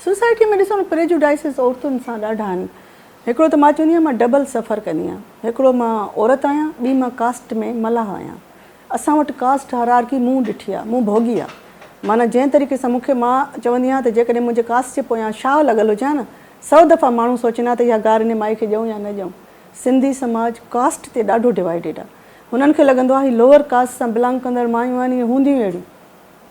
Society ۾ ڏسو نه prejudices عورتن سان ڏاڍا آهن. هڪڙو ته مان چوندي آهيان مان ڊبل سفر ڪندي آهيان. هڪڙو مان عورت آهيان ٻي مان ڪاسٽ ۾ ملاح آهيان. اسان وٽ ڪاسٽ هرارڪي مون ڏٺي آهي، مون ڀوڳي آهي. معنيٰ جنهن طريقي سان مون کي مان چوندي آهيان ته جيڪڏهن منهنجي ڪاسٽ جي پويان شاهه لڳل هجي ها نه سؤ دفعا ماڻهو سوچين ها ته اها گار انهي مائي کي ڏيئون يا نه ڏيئون. سنڌي سماج ڪاسٽ تي ڏاڍو ڊوائيڊيڊ آهي. هنن کي لڳندو آهي هي لوئر ڪاسٽ سان بلانگ ڪندڙ مايون آهن اهي هونديون ئي اهڙيون.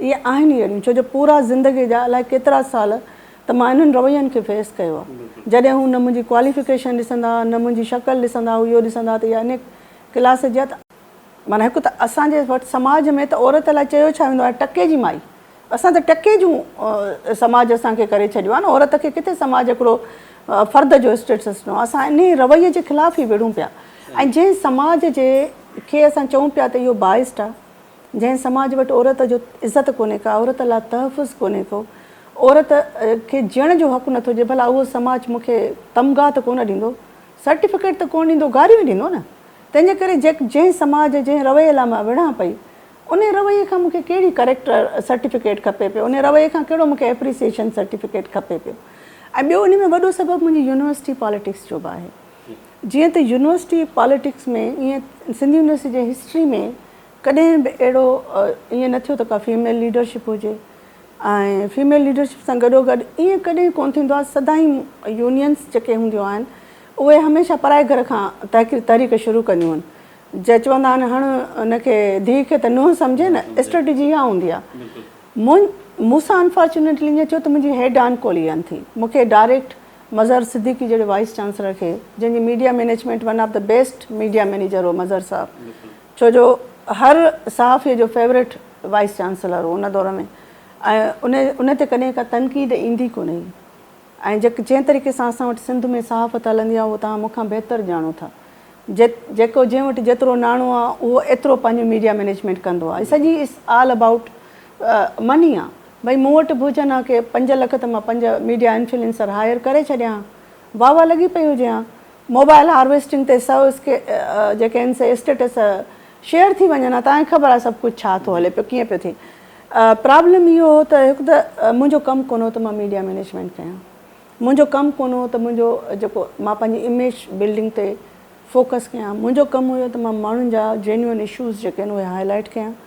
اهي آهن ئي اهڙيون، ڇو جو پورا زندگيء جا الائي ڪيترا سال ته مان انهن روين کي فيس ڪيو آهي. جڏهن هو نه منهنجي ڪواليفڪيشن ڏسندا، نه منهنجي شڪل ڏسندا، هو اهو ڏسندا ته اها انهيء ڪلاس جي ات. معنيٰ هڪ ته اسان جي وٽ سماج ۾ ته عورت لاء چيو ڇا ويندو آهي، ٽڪي جي مائي. اسان ته ٽڪي جون سماج اسان کي ڪري ڇڏيو آهي نه، عورت کي ڪٿي سماج هڪڙو فرد جو اسٽيٽس ڏنو آهي. اسان انهيء رويي جي خلاف ئي وڙهون پيا ۽ جنهن سماج جي کي اسان چئون پيا ته اهو بائسڊ آهي، جنهن سماج وٽ عورت جو عزت ڪونهي ڪا عورت لا تحفظ ڪونهي ڪو عورت کي جيئڻ جو حق نٿو ڏي ڀلا اهو سماج مون کي تمغا ته ڪونه ڏيندو سرٽيفڪيٽ ته ڪونه ڏيندو گاريون ئي ڏيندو نه تنهن جي ڪري جنهن سماج جنهن رويي لا مان وڙهان پئي انهي رويي کان مون کي ڪهڙي ڪريڪٽر سرٽيفڪيٽ کپي پيو انهي رويي کان ڪهڙو مون کي ايپريسيشن سرٽيفڪيٽ کپي پيو ۽ ٻيو انهي ۾ وڏو سبب منهنجي يونيورسٽي پاليٽڪس جو به آهي جيئن ته يونيورسٽي پاليٽڪس ۾ ائين سنڌ يونيورسٽي جي هسٽري ۾ ڪڏهن به اهڙو ائين نه ٿيو ته ڪا فيميل ليڊرشپ هجي ۽ فيميل ليڊرشپ سان گڏوگڏ ائين ڪڏهن ڪونه ٿيندو آهي سدائين يونينس جيڪي هونديون آهن اهي هميشه پرائي گهر کان تحريڪ شروع ڪنديون آهن جي چوندا آهن هڻ ان کي ڌيء کي ته نونهن سمجهي نه اسٽريٽجي اها هوندي آهي مون مون سان انفارچونيٽلي ائين ٿيو ته منهنجي هيڊ آن ڪولي آن ٿي مون کي ڊائريڪٽ مظهر صديقي جهڙي وائيس چانسلر کي جنهن جي media management one of the best media manager هو مظهر صاحب ڇو جو هر صحافي جو فيورٽ وائيس چانسلر هو ان دور ۾ ۽ ان تي ڪڏهن ڪا تنقيد ايندي ڪونه هئي ۽ جنهن طريقي سان اسان وٽ سنڌ ۾ صحافت هلندي آهي اهو توهان مون کان بهتر ڄاڻو ٿا جيڪو جنهن وٽ جيترو ناڻو آهي اهو ايترو پنهنجي ميڊيا مئنيجمينٽ ڪندو آهي سڄي اٽس آل ابائوٽ مني آهي ڀئي مون وٽ به هجن ها ڪي پنج لک ته مان پنج ميڊيا انفلينسر هائير ڪري ڇڏيان ها واهه واهه لڳي پئي هجي ها موبائل هارويسٽنگ تي سو جيڪي آهن سي اسٽيٽس شيئر ٿي وڃن ها تانکي خبر آهي سڀ ڪجهه ڇا ٿو هلي پيو ڪيئن پيو ٿئي پرابلم اهو هو ته هڪ ته منهنجو ڪم ڪونه هو ته مان ميڊيا مينيجمينٽ ڪيان منهنجو ڪم ڪونه هو ته منهنجو جيڪو مان پنهنجي اميج بلڊنگ تي فوڪس ڪيان منهنجو ڪم هو ته مان ماڻهن جا جينيون اشوز جيڪي آهن اهي هاء لائٽ ڪيان